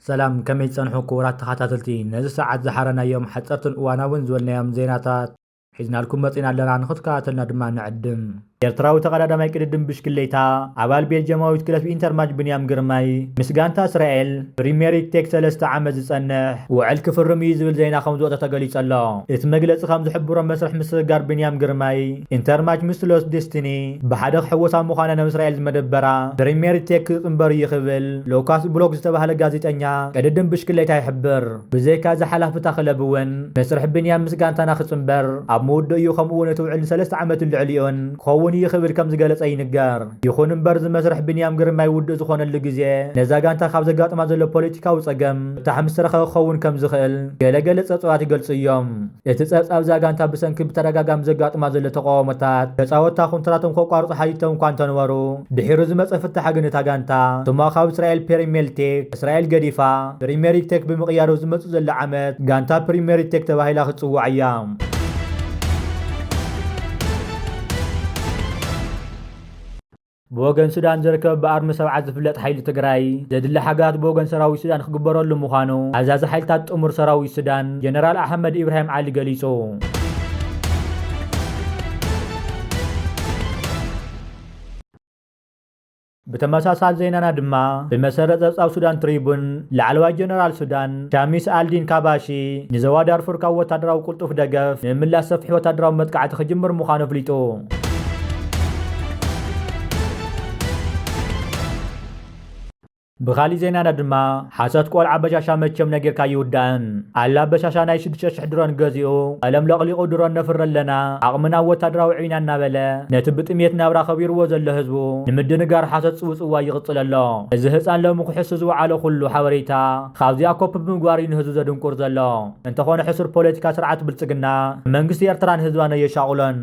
ሰላም ከመይ ትጸንሑ ክቡራት ተኸታተልቲ ነዚ ሰዓት ዝሓረናዮም ሓጸርትን እዋናውን ዝበልናዮም ዜናታት ሒዝናልኩም መጺና ኣለና ንክትከታተልና ድማ ንዕድም። ኤርትራዊ ተቐዳዳማይ ቅድድም ብሽክሌታ ኣባል ቤልጅየማዊት ክለብ ኢንተርማጅ ብንያም ግርማይ ምስ ጋንታ እስራኤል ፕሪሜሪግ ቴክ ሰለስተ ዓመት ዝጸንሕ ውዕል ክፍርም እዩ ዝብል ዜና ከምዝወጸ ተገሊጹ ኣሎ። እቲ መግለጺ ከምዝሕብሮ መስርሕ ምስግጋር ብንያም ግርማይ ኢንተርማጅ ምስ ሎስ ዴስቲኒ ብሓደ ክሕወስ ኣብ ምዃና ናብ እስራኤል ዝመደበራ ፕሪሜሪግ ቴክ ክጽንበር'ዩ ክብል ሉካስ ብሎክ ዝተባህለ ጋዜጠኛ ቅድድም ብሽክሌታ ይሕብር። ብዘይካ እዚ ሓላፍታ ክለብ እውን መስርሕ ቢንያም ምስ ጋንታና ክጽንበር ኣብ ምውድኡ እዩ ከምኡ እውን እቲ ውዕል ንሰለስተ ዓመትን ልዕሊኡን ክኸውን እዩ ክብል ከም ዝገለጸ ይንገር። ይኹን እምበር እዚ መስርሕ ቢንያም ግርማይ ውዱእ ዝኾነሉ ግዜ ነዛ ጋንታ ካብ ዘጋጥማ ዘሎ ፖለቲካዊ ጸገም ፍታሕ ምስ ተረኸበ ክኸውን ከም ዝኽእል ገለ ገለ ጸብጻባት ይገልጹ እዮም። እቲ ጸብጻብ እዛ ጋንታ ብሰንኪ ብተደጋጋሚ ዘጋጥማ ዘሎ ተቓውሞታት ተጻወትታ ኩንትራቶም ከቋርጹ ሓቲቶም እኳ እንተነበሩ ድሒሩ ዝመጸ ፍታሕ ግን እታ ጋንታ ስሟ ካብ እስራኤል ፔሪሜልቲክ እስራኤል ገዲፋ ፕሪሜሪግ ቴክ ብምቕያሩ ዝመጽእ ዘሎ ዓመት ጋንታ ፕሪሜሪግ ቴክ ተባሂላ ክትጽዋዕ እያ። ብወገን ሱዳን ዝርከብ ብኣርሚ ሰብዓት ዝፍለጥ ሓይሊ ትግራይ ዘድሊ ሓጋት ብወገን ሰራዊት ሱዳን ክግበረሉ ምዃኑ ኣዛዚ ሓይልታት ጥሙር ሰራዊት ሱዳን ጀነራል ኣሕመድ ኢብራሂም ዓሊ ገሊጹ። ብተመሳሳሊ ዜናና ድማ ብመሰረት ጸብጻብ ሱዳን ትሪቡን፣ ላዕለዋይ ጀነራል ሱዳን ሻሚስ ኣልዲን ካባሺ ንዞባ ዳርፉር ካብ ወታደራዊ ቅልጡፍ ደገፍ ንምምላስ ሰፊሕ ወታደራዊ መጥቃዕቲ ክጅምር ምዃኑ ኣፍሊጡ። ብኻሊእ ዜናና ድማ ሓሶት ቆልዓ በሻሻ መቸም ነጊርካ ኣይውዳእን። ኣላ በሻሻ ናይ ሽዱሽተ ሽሕ ድሮን ገዚኡ ቀለም ለቕሊቑ ድሮን ነፍሪ ኣለና ዓቕምና ወታደራዊ ዒና እናበለ ነቲ ብጥምየት ናብራ ከቢርዎ ዘሎ ህዝቡ ንምድንጋር ሓሶት ጽውጽዋይ ይቕጽል ኣሎ። እዚ ህጻን ሎሚ ክሕሱ ዝወዓሎ ኩሉ ሓበሬታ ኻብዚኣ ኮፒ ብምግባር እዩ ንህዝቡ ዘድንቁር ዘሎ። እንተኾነ ሕሱር ፖለቲካ ስርዓት ብልጽግና ንመንግስቲ ኤርትራን ህዝባን ኣየሻቑሎን።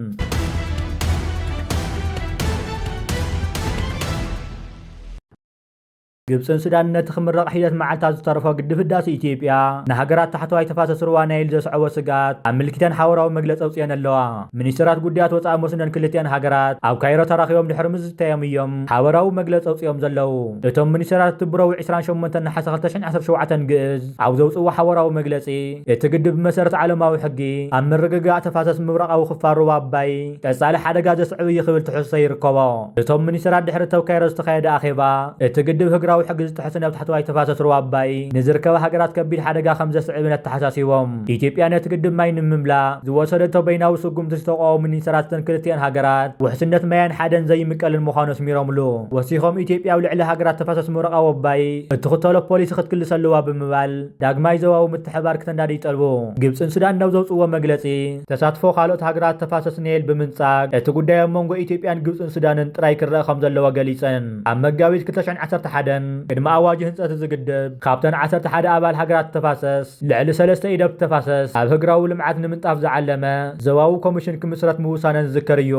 ግብፅን ሱዳንን ነቲ ክምረቕ ሒደት መዓልታት ዝተረፎ ግድብ ህዳሰ ኢትዮጵያ ንሃገራት ታሕተዋይ ተፋሰስ ሩባ ናይል ዘስዐቦ ስግኣት ኣመልኪተን ሓበራዊ መግለፂ ኣውፂኤን ኣለዋ። ሚኒስተራት ጉዳያት ወፃኢ መስኖን ክልቲኣን ሃገራት ኣብ ካይሮ ተራኺቦም ድሕሪ ምዝትታዮም እዮም ሓበራዊ መግለፂ ኣውፂኦም ዘለዉ። እቶም ሚኒስተራት እቲ ብረቡዕ ዕስራን ሸሞንተን ነሓሰ ክልተ ሽሕን ዓሰርተ ሸውዓተን ግእዝ ኣብ ዘውፅእዎ ሓበራዊ መግለፂ እቲ ግድብ ብመሰረት ዓለማዊ ሕጊ ኣብ ምርግጋእ ተፋሰስ ምብራቓዊ ክፋል ሩባ ኣባይ ቀጻሊ ሓደጋ ዘስዕብ እዩ ክብል ትሕዝቶ ይርከቦ። እቶም ሚኒስተራት ድሕሪ እተው ካይሮ ዝተኻየደ ኣኼባ፣ እቲ ግድብ ህግራዊ ሕጊ ዝጥሕስን ኣብ ታሕተዋይ ተፋሰስ ሩባ ኣባይ ንዝርከባ ሃገራት ከቢድ ሓደጋ ከምዘስዕብን ኣተሓሳሲቦም። ኢትዮጵያ ነቲ ግድብ ማይ ንምምላእ ዝወሰደቶ በይናዊ ስጉምቲ ዝተቋወሙ ሚኒስተራት እተን ክልቲኣን ሃገራት ውሕስነት ማያን ሓደን ዘይምቀልን ምዃኑ ኣስሚሮምሉ። ወሲኾም ኢትዮጵያ ኣብ ልዕሊ ሃገራት ተፋሰስ ምረቕ ኣወባይ እትኽተሎ ፖሊሲ ክትክልስ ኣለዋ ብምባል፣ ዳግማይ ዞባዊ ምትሕብባር ክተንዳዲ ይጠልቡ። ግብጽን ሱዳንን ኣብ ዘውጽእዎ መግለጺ፣ ተሳትፎ ካልኦት ሃገራት ተፋሰስ ናይል ብምንጻግ፣ እቲ ጉዳይ ኣብ መንጎ ኢትዮጵያን ግብጽን ሱዳንን ጥራይ ክረኣ ከምዘለዎ ገሊጸን። ኣብ መጋቢት ክልተ ሽሕን ዓሰርተ ሓደን፣ ቅድሚ ኣዋጅ ህንጸት እዚ ግድብ፣ ካብተን ዓሰርተ ሓደ ኣባል ሃገራት ተፋሰስ፣ ልዕሊ ሰለስተ ኢድ ኣብቲ ተፋሰስ ኣብ ህግራዊ ልምዓት ንምንጣፍ ዝዓለመ ዞባዊ ኮሚሽን ክምስረት ምውሳነን ዝዝከር እዩ።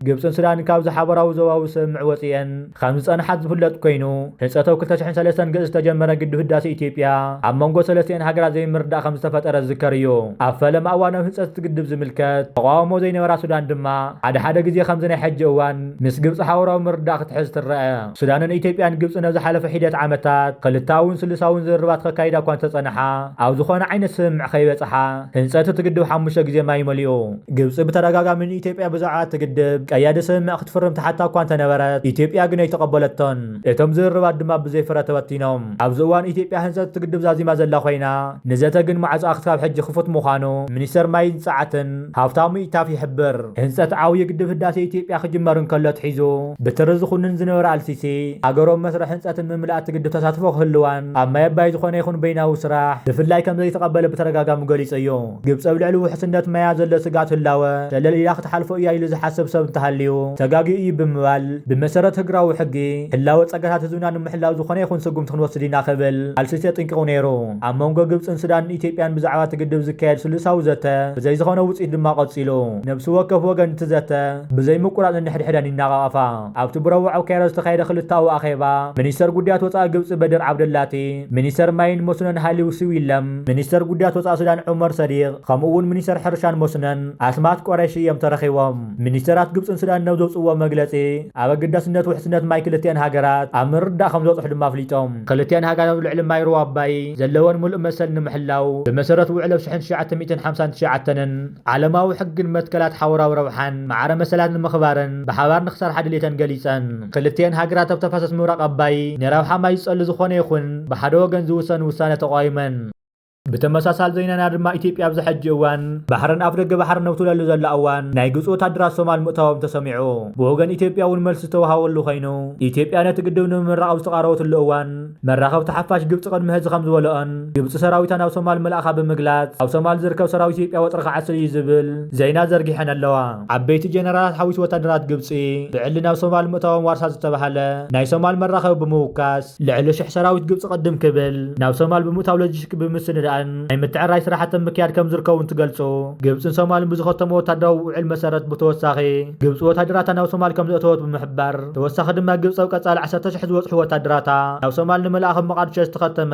ግብጽን ሱዳንን ካብዚ ሓበራዊ ዞባዊ ስምምዕ ወጺኤን። ከም ዝጸንሓት ዝፍለጥ ኮይኑ፣ ህንጸተው ክልተ ሽሕን ሰለስተን ግእዝ ዝተጀመረ ግድብ ህዳሴ ኢትዮጵያ፣ ኣብ መንጎ ሰለስቲኤን ሃገራት ዘይምርድዳእ ከም ዝተፈጠረ ዝዝከር እዩ። ኣብ ፈለማ እዋናዊ ህንጸት እቲ ግድብ ዝምልከት ተቓውሞ ዘይነበራ ሱዳን ድማ፣ ሓደ ሓደ ግዜ ከምዚ ናይ ሕጂ እዋን ምስ ግብጺ ሓውራዊ ምርድዳእ ክትሕዝ ትረኣ። ሱዳንን ኢትዮጵያን ግብጽን ኣብ ዝሓለፈ ሒደት ዓመታት ክልተኣውን ስሉሳውን ዝርርባት ከካይዳ እኳ እንተጸንሓ፣ ኣብ ዝኾነ ዓይነት ስምምዕ ከይበጽሓ፣ ህንጸት እቲ ግድብ ሓሙሽተ ግዜ ማይ መሊኡ። ግብፂ ብተደጋጋሚ ንኢትዮጵያ ብዛዕባ እቲ ግድብ ቀያዲ ስምምዕ ክትፍርም ትሓታ እኳ እንተነበረት ኢትዮጵያ ግን ኣይተቐበለቶን። እቶም ዝርርባት ድማ ብዘይ ፍረ ተበቲኖም። ኣብዚ እዋን ኢትዮጵያ ህንፀት እቲ ግድብ ዛዚማ ዘላ ኮይና ንዘተ ግን ማዕፆኣ ክሳብ ሕጂ ክፉት ምዃኑ ሚኒስተር ማይን ፅዓትን ሃብታሙ ኢታፍ ይሕብር። ህንፀት ዓብዩ ግድብ ህዳሴ ኢትዮጵያ ክጅመር እንከሎ ኣትሒዙ ብትሪ ዝኹንን ዝነበረ ኣልሲሲ ሃገሩ ኣብ መስርሕ ህንፀትን ምምላእ እቲ ግድብ ተሳትፎ ክህልዋን ኣብ ማይ ኣባይ ዝኾነ ይኹን በይናዊ ስራሕ ብፍላይ ከምዘይተቐበለ ብተደጋጋሚ ገሊፁ እዩ። ግብፂ ኣብ ልዕሊ ውሕስነት ማያ ዘሎ ስግኣት ህላወ ሸለል ኢላ ክትሓልፎ እያ ኢሉ ዝሓስብ ሰብ እንተሃልዩ ተጋግዩ እዩ ብምባል ብመሰረት ህግራዊ ሕጊ ህላወ ፀጋታት ህዝብና ንምሕላው ዝኾነ ይኹን ስጉምቲ ክንወስድ ኢና ክብል ኣልሲሲ ኣጥንቂቑ ነይሩ። ኣብ መንጎ ግብፅን ሱዳንን ኢትዮጵያን ብዛዕባ እቲ ግድብ ዝካየድ ስሉሳዊ ዘተ ብዘይ ዝኾነ ውፅኢት ድማ ቀፂሉ። ነብሲ ወከፍ ወገን እቲ ዘተ ብዘይ ምቁራፅ ነንሕድሕደን ይናቓቐፋ። ኣብቲ ብረቡዕ ኣብ ካይሮ ዝተኻየደ ክልተኣዊ ኣኼባ፣ ሚኒስተር ጉዳያት ወጻኢ ግብጺ በድር ዓብደላቲ፣ ሚኒስተር ማይን መስኖን ሃሊው ሲዊለም፣ ሚኒስተር ጉዳያት ወጻኢ ሱዳን ዑመር ሰዲቕ፣ ከምኡ'ውን ሚኒስተር ሕርሻን መስኖን ኣስማት ቁረይሺ እዮም ተረኺቦም። ሚኒስተራት ግብጽን ሱዳንን ኣብ ዘውጽእዎ መግለጺ፣ ኣብ ኣገዳስነት ውሕስነት ማይ ክልቲኤን ሃገራት ኣብ ምርድዳእ ከምዝበጽሑ ድማ ኣፍሊጦም። ክልቲኤን ሃገራት ኣብ ልዕሊ ማይ ሩባ ኣባይ ዘለወን ምሉእ መሰል ንምሕላው፣ ብመሰረት ውዕል ኣብ ሽሕን ትሽዓተ ሚእትን ሓምሳን ትሽዓተንን፣ ዓለማዊ ሕግን መትከላት ሓውራዊ ረብሓን ማዕረ መሰላት ንምኽባረን ብሓባር ንክሰርሓ ድሌተን ገሊፀን። ክልቲኤን ሃገራት ኣብ ተፋሰስ ምብራቕ ኣባይ ንረብሓ ማይ ዝፀሉ ዝኾነ ይኹን ብሓደ ወገን ዝውሰን ውሳነ ተቋዊመን። ብተመሳሳሊ ዘይናና ድማ ኢትዮጵያ ኣብዚ ሕጂ እዋን ባሕረን ኣፍደገ ባሕረን ኣብ ትብለሉ ዘላ እዋን ናይ ግብፂ ወታደራት ሶማል ምእታዎም ተሰሚዑ። ብወገን ኢትዮጵያ እውን መልሲ ዝተውሃበሉ ኮይኑ ኢትዮጵያ ነቲ ግድብ ንምምራቕ ኣብ ዝተቓረበትሉ እዋን መራኸብቲ ሓፋሽ ግብጺ ቅድሚ ሐዚ ከምዝበለኦን ግብጺ ሰራዊታ ናብ ሶማል ምልኣኻ ብምግላጽ ኣብ ሶማል ዝርከብ ሰራዊት ኢትዮጵያ ወጥሪ ክዓስል እዩ ዝብል ዜና ዘርጊሐን ኣለዋ። ዓበይቲ ጀነራላት ሓዊሱ ወታደራት ግብጺ ብዕሊ ናብ ሶማል ምእታዎም ዋርሳት ዝተበሃለ ናይ ሶማል መራኸቢ ብምውካስ ልዕሊ ሽሕ ሰራዊት ግብጺ ቅድም ክብል ናብ ሶማል ብምእታው ሎጂስቲክ ብምስንዳእን ናይ ምትዕርራይ ስራሕቲ ኣብ ምክያድ ከምዝርከቡ እንትገልጹ ግብጽን ሶማልን ብዝኸተምዎ ወታደራዊ ውዕል መሰረት ብተወሳኺ ግብጺ ወታደራታ ናብ ሶማል ከምዘእተወት ብምሕባር ተወሳኺ ድማ ግብፂ ኣብ ቀፃሊ ዓሰርተ ሽሕ ዝበፅሑ ወታደራታ ናብ ሶማል ንምልኣኽ ኣብ መቓድሾ ዝተኸተመ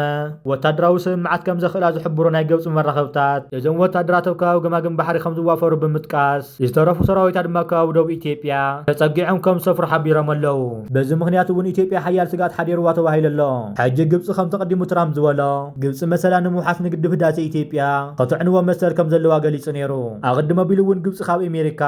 ወታደራዊ ስምምዓት ከምዘኽእላ ዝሕብሩ ናይ ግብፂ መራኸብታት እዞም ወታደራት ኣብ ከባቢ ገማግም ባሕሪ ከምዝዋፈሩ ብምጥቃስ ዝተረፉ ሰራዊታ ድማ ኣብ ከባቢ ደቡብ ኢትዮጵያ ተፀጊዖም ከምዝሰፍሩ ሓቢሮም ኣለው። በዚ ምኽንያት እውን ኢትዮጵያ ሓያል ስግኣት ሓዲሩዋ ተባሂሉ ኣሎ። ሕጂ ግብፂ ከምቲ ኣቐዲሙ ትራምፕ ዝበሎ ግብፂ መሰላ ንምውሓስ ንግድብ ህዳሴ ኢትዮጵያ ከተዕንዎ መሰል ከምዘለዋ ገሊፁ ነይሩ። ኣቐድም ኣቢሉ እውን ግብፂ ካብ ኣሜሪካ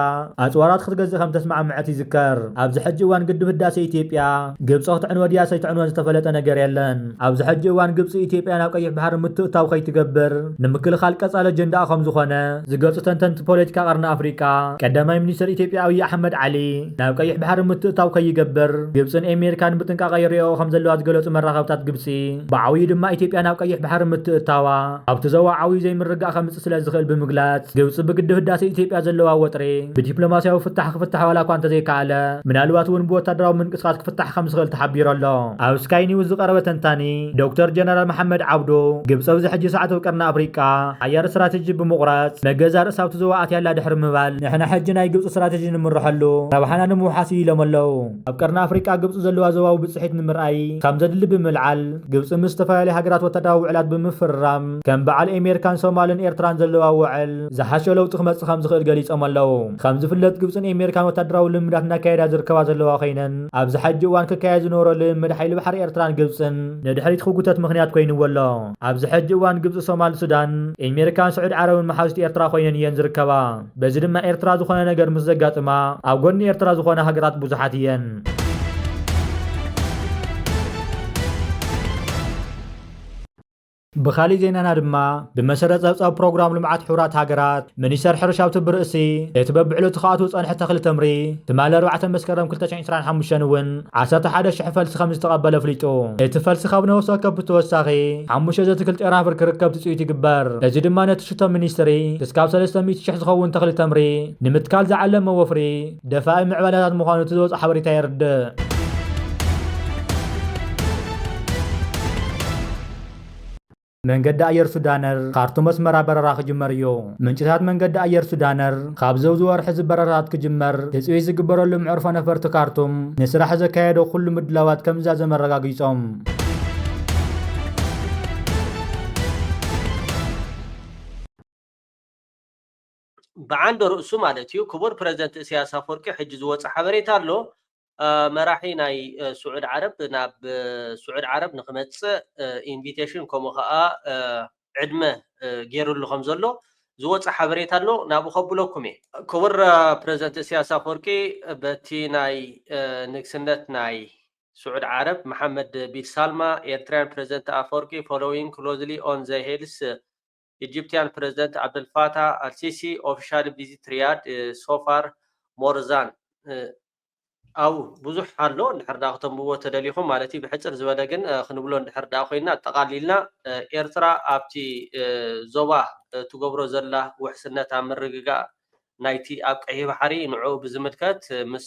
ኣፅዋራት ክትገዝእ ከምዝተስማዕመዐት ይዝከር። ኣብዚ ሕጂ እዋን ግድብ ህዳሴ ኢትዮጵያ ግብፂ ክትዕንወ ድያ ሰይትዕንወን ዝተፈለጠ ነገር የለን። ኣብዚ ሕጂ እዋን ግብፂ ኢትዮጵያ ናብ ቀይሕ ባሕሪ ምትእታው ከይትገብር ንምክልኻል ቀፃሊ ኣጀንዳኣ ከምዝኾነ ዝገልፁ ተንተንቲ ፖለቲካ ቀርኒ ኣፍሪቃ ቀዳማይ ሚኒስትር ኢትዮጵያ ኣብዪ ኣሕመድ ዓሊ ናብ ቀይሕ ባሕሪ ምትእታው ከይገብር ግብፅን ኤሜሪካን ብጥንቃቐ ይሪኦኦ ከምዘለዋ ዝገለፁ መራኸብታት ግብፂ ብዓብዩ ድማ ኢትዮጵያ ናብ ቀይሕ ባሕሪ ምትእታዋ ኣብቲ ዘዋ ዓብዩ ዘይምርግጋእ ከምፅእ ስለዝኽእል ብምግላፅ፣ ግብፂ ብግድብ ህዳሰ ኢትዮጵያ ዘለዋ ወጥሪ ብዲፕሎማሲያዊ ፍታሕ ክፍታሕ ዋላኳ እንተዘይከኣለ ምናልባት እውን ብወታደራዊ ምንቅስቓስ ክፍታሕ ከምዝኽእል ተሓቢሩ ኣሎ። ኣብ ስካይ ኒውስ ዝቐረበ ተንታኒ ዶክተር ጀነራል መሓመድ ዓብዱ፣ ግብፂ ኣብዚ ሕጂ ሰዓት ኣብ ቀርኒ ኣፍሪቃ ሓያል ስትራቴጂ ብምቑራፅ ንገዛ ርእሳ ኣብቲ ዘዋ ኣትያ ኣላ ድሕሪ ምባል፣ ንሕና ሕጂ ናይ ግብፂ ስትራቴጂ ንምረሐሉ ረብሓና ንምውሓስ እዩ ኢሎም ኣለው። ኣብ ቀርኒ ኣፍሪቃ ግብፂ ዘለዋ ዞባዊ ብፅሒት ንምርኣይ ከም ዘድሊ ብምልዓል ግብፂ ምስ ዝተፈላለዩ ሃገራት ወታደራዊ ውዕላት ብምፍርራም ከም በዓል ኤሜርካን ሶማልን ኤርትራን ዘለዋ ውዕል ዝሓሸ ለውጢ ክመፅእ ከም ዝኽእል ገሊፆም ኣለው። ከም ዝፍለጥ ግብፅን ኤሜርካን ወታደራዊ ልምምዳት እናካየዳ ዝርከባ ዘለዋ ኮይነን ኣብዚ ሐጂ እዋን ክካየድ ዝነበሮ ልምምድ ሓይሊ ባሕሪ ኤርትራን ግብፅን ንድሕሪት ክጉተት ምኽንያት ኮይንዎ ኣሎ። ኣብዚ ሐጂ እዋን ግብፂ ሶማል ሱዳን፣ ኤሜርካን ስዑድ ዓረብን መሓዙት ኤርትራ ኮይነን እየን ዝርከባ። በዚ ድማ ኤርትራ ዝኾነ ነገር ምስ ዘጋጥማ ኣብ ጎኒ ኤርትራ ዝኾነ ሃገራት ብዙሓት እየን። ብኻሊእ ዜናና ድማ ብመሰረት ጸብጻብ ፕሮግራም ልምዓት ሕቡራት ሃገራት ሚኒስተር ሕርሻ ኣብቲ ብርእሲ እቲ በብዕለቱ ክኣትው ዝጸንሐ ተኽሊ ተምሪ ትማሊ ኣርባዕተ መስከረም 2025 እውን ዓሰርተ ሓደ ሽሕ ፈልሲ ከም ዝተቐበለ ኣፍሊጡ። እቲ ፈልሲ ካብ ነፍሲ ወከፍ ብተወሳኺ ሓሙሽተ ዘትክልቲ ጨናፍር ክርከብ ትፅቢት ይግበር። እዚ ድማ ነቲ ሽቶ ሚኒስትሪ ክስካብ ሰለስተ ሚእቲ ሽሕ ዝኸውን ተኽሊ ተምሪ ንምትካል ዝዓለመ ወፍሪ ደፋኢ ምዕባለታት ምዃኑ እቲ ዝወፅኣ ሓበሬታ የርድእ። መንገዲ ኣየር ሱዳነር፣ ካርቱም ኣስመራ በረራ ክጅመር እዩ። ምንጭታት መንገዲ ኣየር ሱዳነር፣ ካብዚ ኣብዚ ወርሒ'ዚ በረራታት ክጅመር ትጽቢት ዝግበረሉ መዕርፎ ነፈርቲ ካርቱም፣ ንስራሕ ዘካየዶ ኩሉ ምድላዋት ከምዝዛዘመ ኣረጋጊጾም። ብዓንደ ርእሱ ማለት እዩ ክቡር ፕረዚደንት እሰያስ ኣፍወርቂ ሕጂ ዝወጸ ሓበሬታ ኣሎ መራሒ ናይ ስዑድ ዓረብ ናብ ስዑድ ዓረብ ንክመጽእ ኢንቪቴሽን ከምኡ ከኣ ዕድመ ገይርሉ ከም ዘሎ ዝወጸ ሓበሬታ ኣሎ ናብኡ ከብለኩም እየ ክቡር ፕረዚደንት እሰያስ ኣፍወርቂ በቲ ናይ ንግስነት ናይ ስዑድ ዓረብ መሓመድ ቢን ሳልማ ኤርትራያን ፕረዚደንት ኣፍወርቂ ፎሎዊንግ ክሎዝሊ ኦን ዘ ሄልስ ኢጂፕቲያን ፕረዚደንት ዓብደልፋታህ ኣልሲሲ ኦፊሻሊ ቪዚት ሪያድ ሶ ፋር ሞር ዛን ኣብኡ ብዙሕ ኣሎ እንድሕር ዳ ክተንብብዎ ተደሊኹም ማለት እዩ ብሕፅር ዝበለ ግን ክንብሎ እንድሕር ዳ ኮይና ኣጠቓሊልና ኤርትራ ኣብቲ ዞባ ትገብሮ ዘላ ውሕስነት ኣብ ምርግጋእ ናይቲ ኣብ ቀይሕ ባሕሪ ንዕኡ ብዝምልከት ምስ